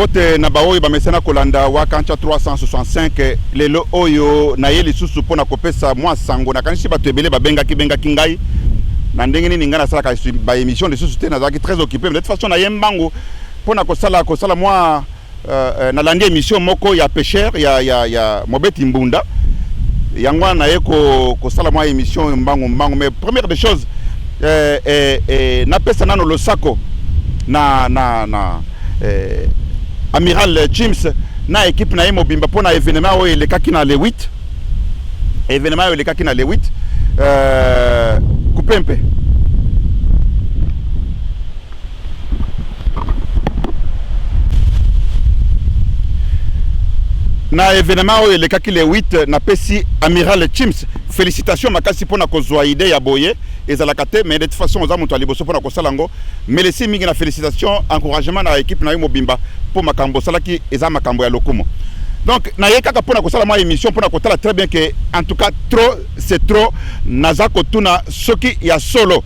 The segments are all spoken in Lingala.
mbote na baoyo bamesana kolanda wakancha 365 lelo oyo naye lisusu mpo na kopesa mwa sango nakanisi bato ebele babengaki bengaki ngai na ndenge nini ngai nasalaka baémission lisusu te nazalaki très occupé de toute façon naye mbangu mpo na kosala kosala mwa Euh, nalandi emission moko ya pêcheur ya, ya, ya mobeti mbunda yango wana naye kosala mwa emission mbangu mbangu mais première des choses eh, eh, eh, napesa nano losako na, na, na eh, amiral James na ekipe na ye mobimba mpo na evenement oyo elekaki na le 8 evenement oyo elekaki na le 8 euh, kupempe na evenement oyo elekaki le 8 napesi amiral chims félicitation makasi mpona kozwa idée ya boye ezalaka te mais de toute façon oza moto ya liboso mpona kosala yango melesi mingi na félicitation encouragement na équipe na yo mobimba mpo makambo osalaki eza makambo ya lokumu donc naye kaka mpona kosala mwa émission mpona kotala très bien que en tout cas trop c'est trop naza kotuna soki ya solo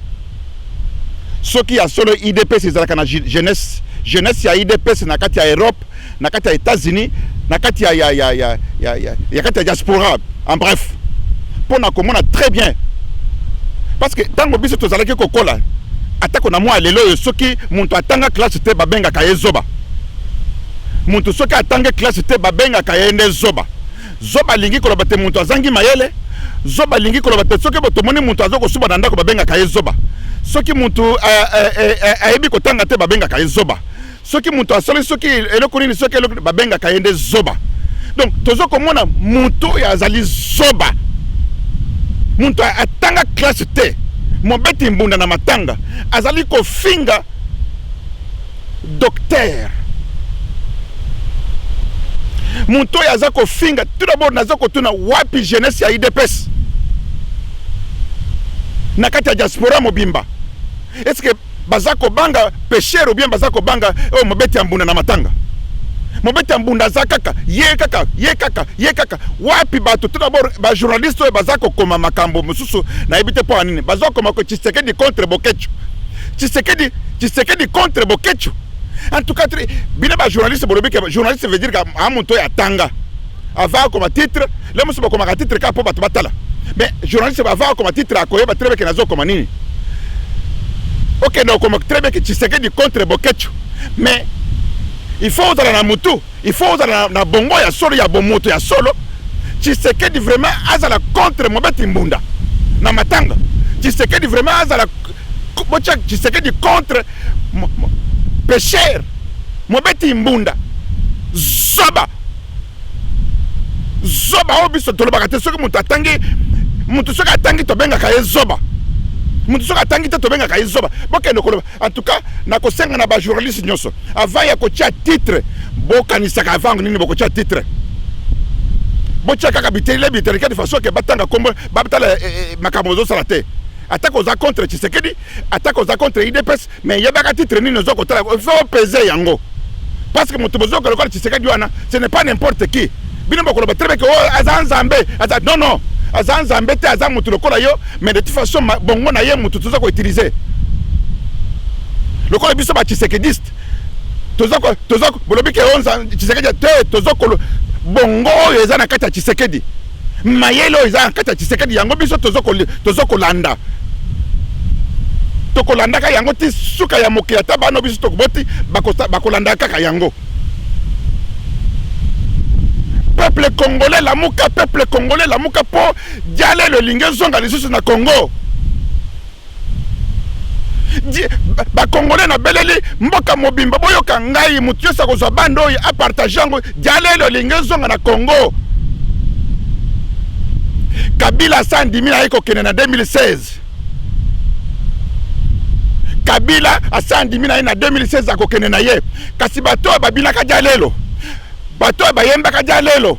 Soki ya solo udps ezalaka na jeunesse, jeunesse ya udps na kati ya Europe, na kati ya Etats-Unis, na kati ya ya ya ya ya ya ya kati ya diaspora, en bref, mpo na komona très bien parce que ntango biso tozalaki kokola atako na mwa lelo oyo soki moto atanga classe te babengaka ye zoba moto soki atangi classe te babengaka ye nde zoba Zoba alingi koloba te mutu azangi mayele, zoba alingi koloba te soki boto moni mutu azo kosuba na ndako babengaka ye zoba, soki mutu ayebi kotanga te babengaka ye zoba, soki mutu asali soki eloko nini soki eloko babengaka ye nde zoba. Donc tozo komona mutu oyo azali zoba, mutu atanga classe te, mobeti mbunda na matanga azali kofinga. Docteur moto oyo aza kofinga tout d'abord, naza kotuna wapi jeunesse ya idps na kati ya diaspora mobimba est-ce que baza kobanga pêcheur ou bien baza kobanga oyo oh, mobeti ya mbunda na matanga mobeti ya mbunda aza kaka ye kaka ye kaka ye kaka wapi bato tout d'abord bajournaliste oyo baza kokoma makambo mosusu nayebi te mpo ya nini baza kokoma ko tshisekedi contre boketshu Tshisekedi, Tshisekedi contre Boketshu. En tout cas, bino ba journaliste bolobi que journaliste veut dire que a moto ya tanga. Ava comme titre, le musu comme titre ka po bato batala. Mais journaliste ba va comme titre akoyeba très bien que nazo comme nini. Ok, donc comme très bien que Tshisekedi contre Boketshu. Mais il faut ozala na mutu, il faut ozala na bongo ya solo ya bomoto ya solo. Tshisekedi vraiment azala contre Mobeti Mbunda na matanga. Tshisekedi vraiment azala botia tshisekedi contre pesher mobeti mbunda zoba zoba oyo biso tolobaka te soki moto atangi moto soki atangi tobengaka ye zoba moto soki atangi te tobengaka ye zoba bokende koloba en tout cas nakosenga na bajournaliste nyonso avant ya kotia titre bokanisaka avant nini bokotia titre botia kaka bitelile bitelike de façon ke batanga kombo batala eh, eh, eh, makambo ozosala te Atako oza contre Tshisekedi, atako oza contre IDPS, mais yebaka titre nini ozo kotala, il faut peser yango. Parce que moto bozo koloka Tshisekedi wana, ce n'est pas n'importe qui. Bino bokoloba très bien que oh aza nzambe, aza non non, aza nzambe te, aza moto lokola yo, mais de toute façon bongo na ye moto toza ko utiliser. Lokola biso ba Tshisekediste, toza ko toza bolobi ke onza oh, Tshisekedi te, toza ko bongo oyo eza na kati ya Tshisekedi. mayele oyo eza na kati ya tshisekedi yango biso tozo kolanda tokolandaka yango ti suka ya mokili ata bana biso tokoboti bakolandaka kaka yango peuple congolais lamuka peuple congolais lamuka mpo jalelo elingi ezonga lisusu na congo bakongole na beleli mboka mobimba boyoka ngai moto nyonso akozwa bande oyo apartage yango dialele olingi ezonga na congo kabila asa andimi na ye kokende na 2016 kabila asa andimi na ye na 2016 akokende na ye kasi bato oyo babinaka dialelo bato oyo bayembaka dialelo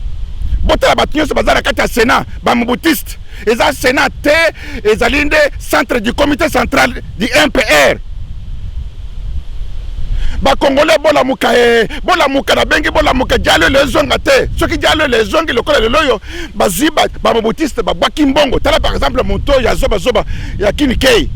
botala bato nyonso baza na kati ya senat bamobutiste eza senat te ezali nde centre du comité central du mpr bakongole bolamuka e bolamuka nabengi bolamuka jalo ele ezonga te soki jalo ele ezongi lokola lelo oyo bazwi bamobutiste babwaki mbongo tala par exemple moto oyo ya zobazoba ya kinikei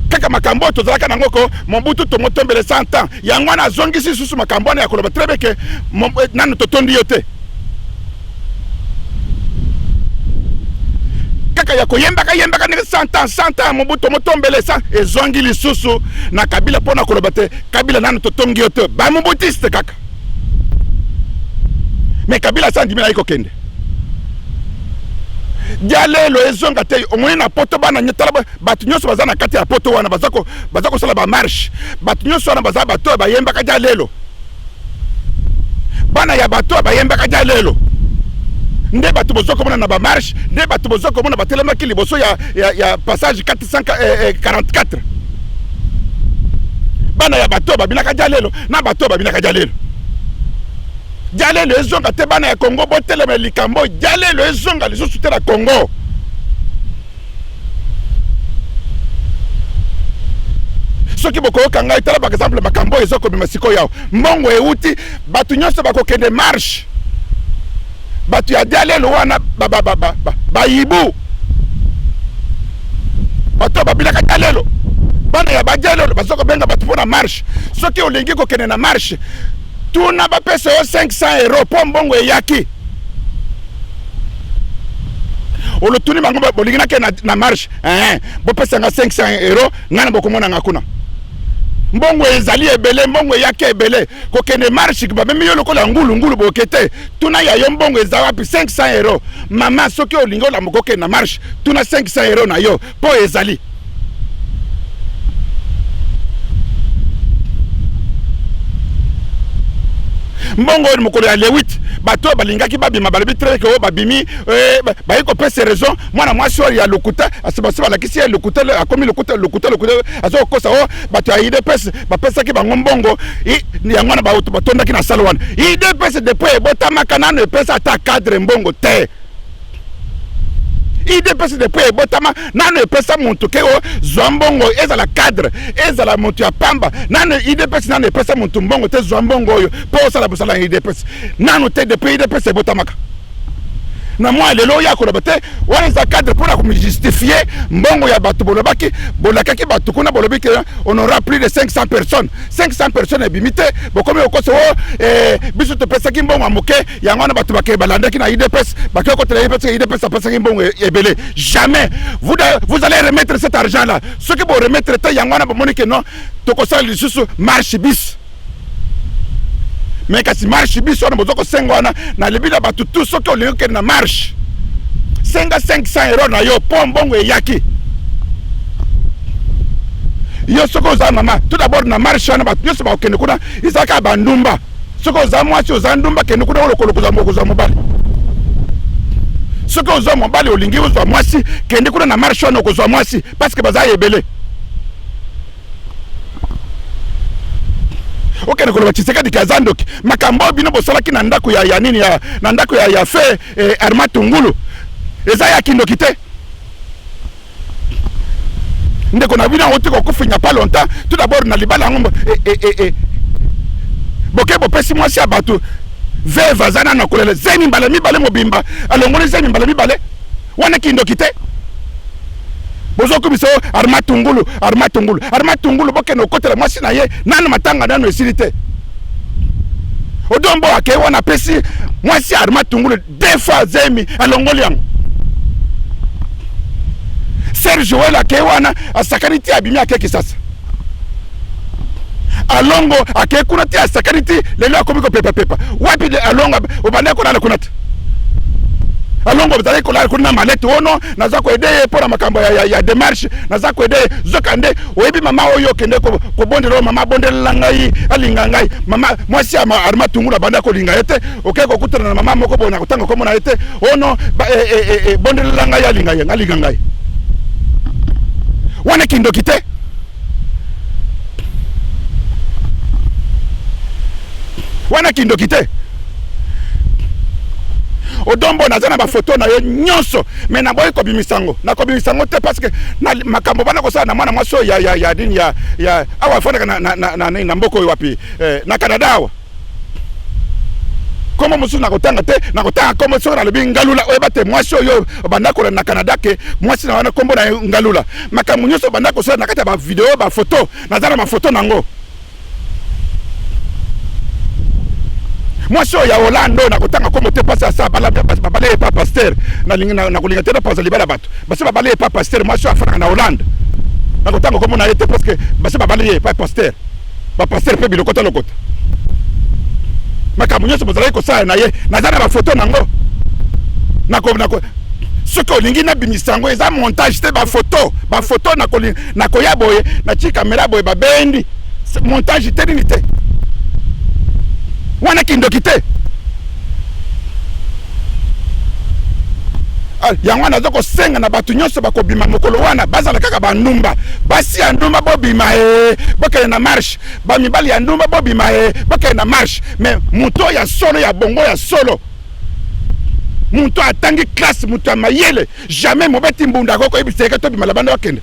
kaka makambo oyo tozalaka nango ko mobutu tongo tombele 100 ans yango wana azongisi lisusu makambo wana ya koloba trebe ke eh, nanu totondi yo te kaka ya koyembaka yembaka ndenge santa santa mobuto motombele sa ezongi lisusu na kabila mpo na koloba te kabila nanu totongi yo te bamobutiste kaka me kabila sa andimi naye kokende dialelo ezonga te omoni na poto bana nyetala bato nyonso baza na kati ya poto wana baza ko baza kosala ba marche bato nyonso wana baza bato oyo bayembaka ja lelo bana ya bato oyo bayembaka ja lelo nde bato bozo komona na ba marche nde bato bozo komona batelemaki liboso ya, ya, ya passage 444 eh, eh, bana ya bato oyo babinaka ja lelo na bato oyo babinaka ja lelo jalelo ezonga te bana ya kongo botelema likambo jalelo ezonga lisusu te na kongo soki bokoyoka ngai tala par exemple makambo oyo eza kobima sikoyo yawa mbongo euti bato nyonso bakokende marche bato ya dialelo wana bayibu bato babilaka dialelo bana ya badialelo baza kobenga bato mpo na marche soki olingi kokende na marche tuna bapesa yo 500 euro mpo mbongo eyaki olotuni bango bolingi nake na, na marche eh, bopesanga 500 euro ngai na bokomonanga kuna mbongo ezali ebele mbongo eyaki ebele kokende marche bamemi yo lokola ngulu ngulu boke te tuna ya yo mbongo eza wapi 500 euro mama soki olingi olamuka okende na marche tuna 500 euro na yo Mpo ezali. mbongo oyo mokolo ya le 8 bato oyo balingaki babima balobi treke oyo babimi eh, bayi kopesa raison mwana mwasi oyo ya lokuta basi balakisi ye lokuta akomi lokuta lokuta lokuta aza kokosa o oh, bato ya idps bapesaki bango mbongo yango wana batondaki na sale wana idps depuis ebotamaka nano epesa ata cadre mbongo te idps de mpo ebotama nanu epesa moto ke ozwa mbongo ezala cadre ezala moto ya pamba nanu idps nanu epesa moto mbongo te zwa mbongo oyo mpo osala bosala ya idps nanu te depuis idps ebotamaka na mwa lelo oyo akoloba te wana eza cadre mpona komijustifie mbongo ya bato bolobaki bolakaki bato kuna bolobi ke on aura plus de 500 personnes 500 personnes ebimi te bokomi okoso o oh, eh, biso topesaki mbongo ya moke yango wana bato bake balandaki na idps bakei kotela ye parce que idps apesaki mbongo e-, ebele jamais vous, vous allez remettre cet argent là soki boremettre te yango wana bomoni ke non tokosala lisusu marche bis me kasi marche bis wana boza kosenga wana na libi na bato tu soki olingi kokende na marche senga 500 euro na yo mpo mbongo eyaki yo soki oza mama tout d'abord na marche wana bato nyonso bakokende kuna ezalaka bandumba soki oza mwasi oza ndumba kende kuna olokolo kozwa mokozwa mobali soki ozwa mobali olingi ozwa mwasi kende kuna na marche wana okozwa mwasi parceke baza ebele okende koloba tshisekedi kaza ndoki makambo oyo bino bosalaki na ndako ya, ya nini ya, na ndako ya, ya fe eh, arma tungulu eza ya kindoki te ndeko na bino yango te kokufinya pa longtemps tout d'abord na libala yango eh, eh, eh, eh. boke bopesi mwasi ya bato veve aza nano akolela zemi mbala mibale mobimba alongoli zemi mbala mibale wana kindoki te bozokumisa yo arma tungulu arma tungulu arma tungulu bokende okotela mwasi na ye nano matanga nano esili te odombo akei wana apesi mwasi arma tungulu defa zemi alongoli yango ser joel akei wana asakani ti abimi ake kisasa alongo akei kuna ti asakani ti lelo akomi kopepapepa wapi alongo obandaki kolala kuna te alongo ozalaki kolala kuna na malete ono naza koede ye mpo na makambo ya, ya, ya demarche naza koede ye zoka nde oyebi mama oyo okende kobondela oyo mama abondelela ngai alinga ngai mama mwasi ya arma tungulu abanda kolinga ye te oke kokutana na mama moko boye na kotanga nkombo na ye te ono ebondelela ngai alinga ye ngalinga ngai wana kindoki te wana kindoki te odombo naza na bafoto na yo nyonso me naboyi kobimisa yango nakobimisa yango te parce que na makambo bana kosala na mwana mwasi oyo ya nini ya awa afandaka na mboka oyo wapi eh, na canada awa kombo mosusu nakotanga te nakotanga kombo soki nalobi ngalula oyeba te mwasi oyo obanda kolanda na canada ke mwasi na wana kombo na ye ngalula makambo nyonso obanda kosala na kati ya bavideo bafoto naza na mafoto na yango mwasi oyo ya holande oyo nakotanga kombo te mpasi asa babale epa paster nakolinga te napanza libala bato basi babale epa paster mwasi oyo afandaka na holande nakotanga kombo na ye te parceke basi babale ye epa paster ba pasteur mpe bilokota lokota makambo nyonso bozalaki kosala na ye naza na bafoto nango nako soki olingi nabimisa yango eza montage te bafoto bafoto nakoya boye natii kamera boye babendi montage te nini te wana kindoki te Ah, yango wana aza kosenga na bato nyonso bakobima mokolo wana bazala kaka bandumba basi ya ndumba bobima e eh, bokende na marche bamibali ya ndumba bobima e eh, bokende na marche me moto ya solo ya bongo ya solo moto atangi classe moto ya mayele jamais mobeti mbunda akoki koyebisa yeke tobima labanda bakende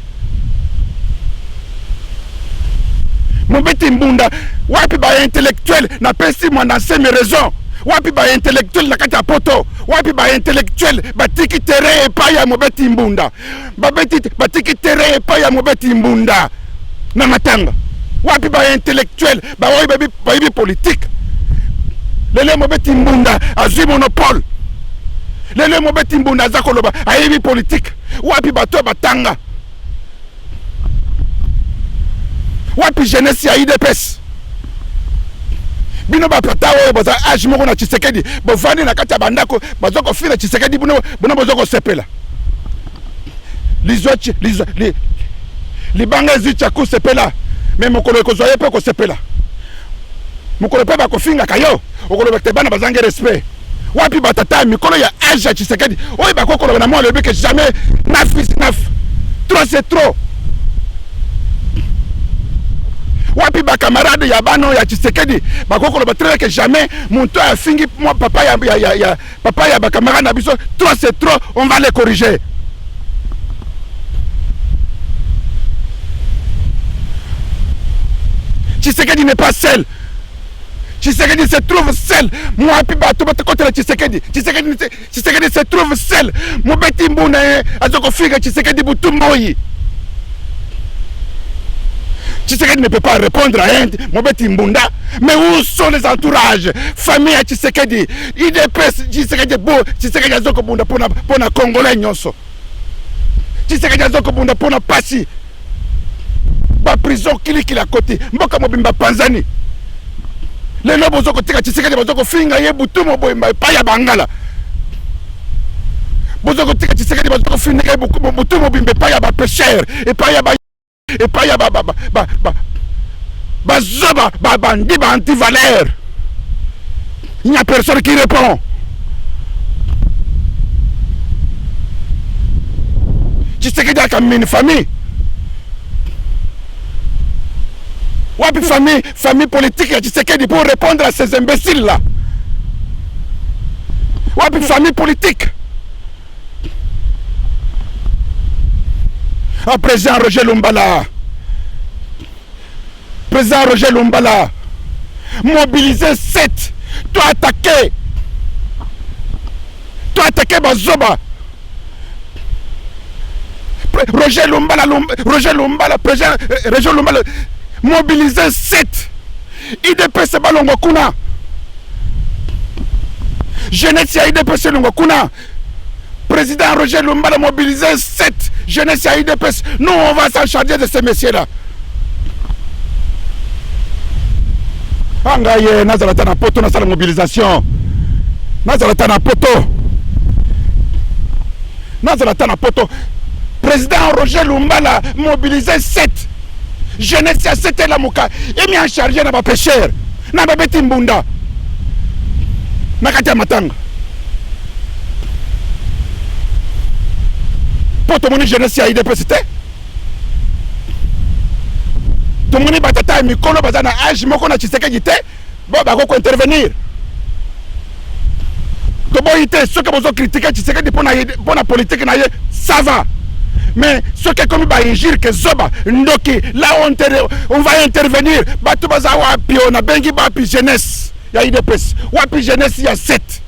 mobeti mbunda wapi baintellectuel napesi mwana nsemi raison wapi baintellectuel na kati ya poto wapi baintellectuel batiki terrain epai ya mobeti mbunda babeti batiki terrain epai ya mobeti mbunda na matanga wapi baintellectuel baoyo bayebi politike lelo mobeti mbunda azwi monopole lelo mobeti mbunda aza koloba ayebi politike wapi bato ya batanga wapi jeunesse ya idps bino bapata oyo boza age moko na tshisekedi bovandi na kati ya bandako baza kofina tshisekedi bino boza kosepela lizwa lizwa li, libanga ezwi chaku sepela me mokolo ekozwa ye mpe okosepela mokolo mpe bakofingaka yo okoloba te bana bazangi respect wapi batata ya mikolo ya age ya tshisekedi oyo bakoki koloba na mwa alobi ke jamais naf is naf trop c'est trop wapi bakamarade ya bana ya tshisekedi bakoki koloba très ke jamais moto afingi mwa papa ya, ya, ya, ya, Papa ya ba camarades na biso trop c'est trop on va les corriger. Tshisekedi n'est pas seul. Tshisekedi se trouve seul. Mwapi bato batakotela Tshisekedi. Tshisekedi Tshisekedi se trouve seul. Mobeti mbu na ye aza kofinga Tshisekedi butu moi. Tshisekedi ne peut pas répondre à un Mobeti Mbunda. Mais où sont les entourages Famille à Tshisekedi udps tshisekedi bo tshisekedi azo kobunda pona pona congolais nyonso tshisekedi azo kobunda pona pasi baprison kilikili akoti mboka mobimba panzani lelo bozo kotika tshisekedi bazo kofinga ye butu moboyemba epai ya bangala bozo kotika tshisekedi bazo kofinga ye butu mobimba epai ya bapeshere epai ya epai ya bazoba babandi ba antivaleur il n'y a personne qui répond tshisekedi akamini famille wapi famille famille politique ya tshisekedi pour répondre à ces imbéciles là wapi famille politique a ah, président roger lumbala président roger lumbala mobiliser 7 to attaquer to attaquer bazoba roger lumbala Lum, roger lumbala président euh, roger lumbala mobiliser 7 idps balongwa kuna jeunesse ya idps elongwa kuna président roger lumbala mobilise 7 jeunesse ya idps nous on va s'en charger de ces messieurs là a ngai ye nazala ata na poto nasala mobilisation nazala ata na poto nazala ata na poto président roger lumbala mobilise 7 Jeunesse ya sete lamuka emi en charge na ba pêcheurs na babeti mbunda na kati ya matanga mpo tomoni jeunesse ya idps te tomoni batata ya mikolo baza na age moko na tshisekedi te Ba bako ko intervenir. Toboyi te soki bozo critiquer Tshisekedi pona pona politique na ye ça va. Mais soki ekomi ba injure ke zoba ndoki là on, on va intervenir bato baza wapi oyo nabengi bapi jeunesse ya idps wapi jeunesse ya 7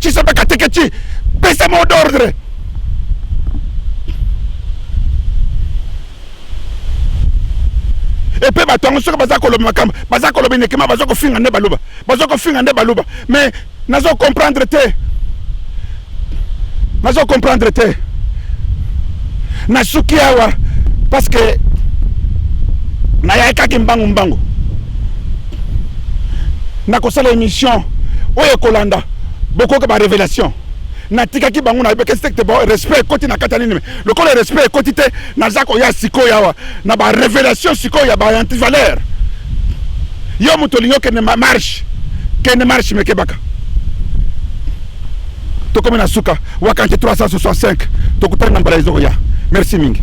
Chisombe Katekechi, pesa mot d'ordre. epe bato yango soki baza koloba makambo baza koloba inekema baza kofinga nde baluba baza kofinga nde baluba mais nazo comprendre te nazo comprendre te nasuki awa parce que nayaki kaki mbangu mbangu nakosala émission oyo ekolanda bokoyoka ba révélation natikaki bango nayebekaki sekte bo respect ekoti na kati ya nini lokola respect ekoti te naza koya sikoyo awa na ba révélation sikoyo ya ba antivaleur yo moto olingi okende marche kende marche mekebaka tokomi na suka wakanti 365 tokutani na mbala ezokoya merci mingi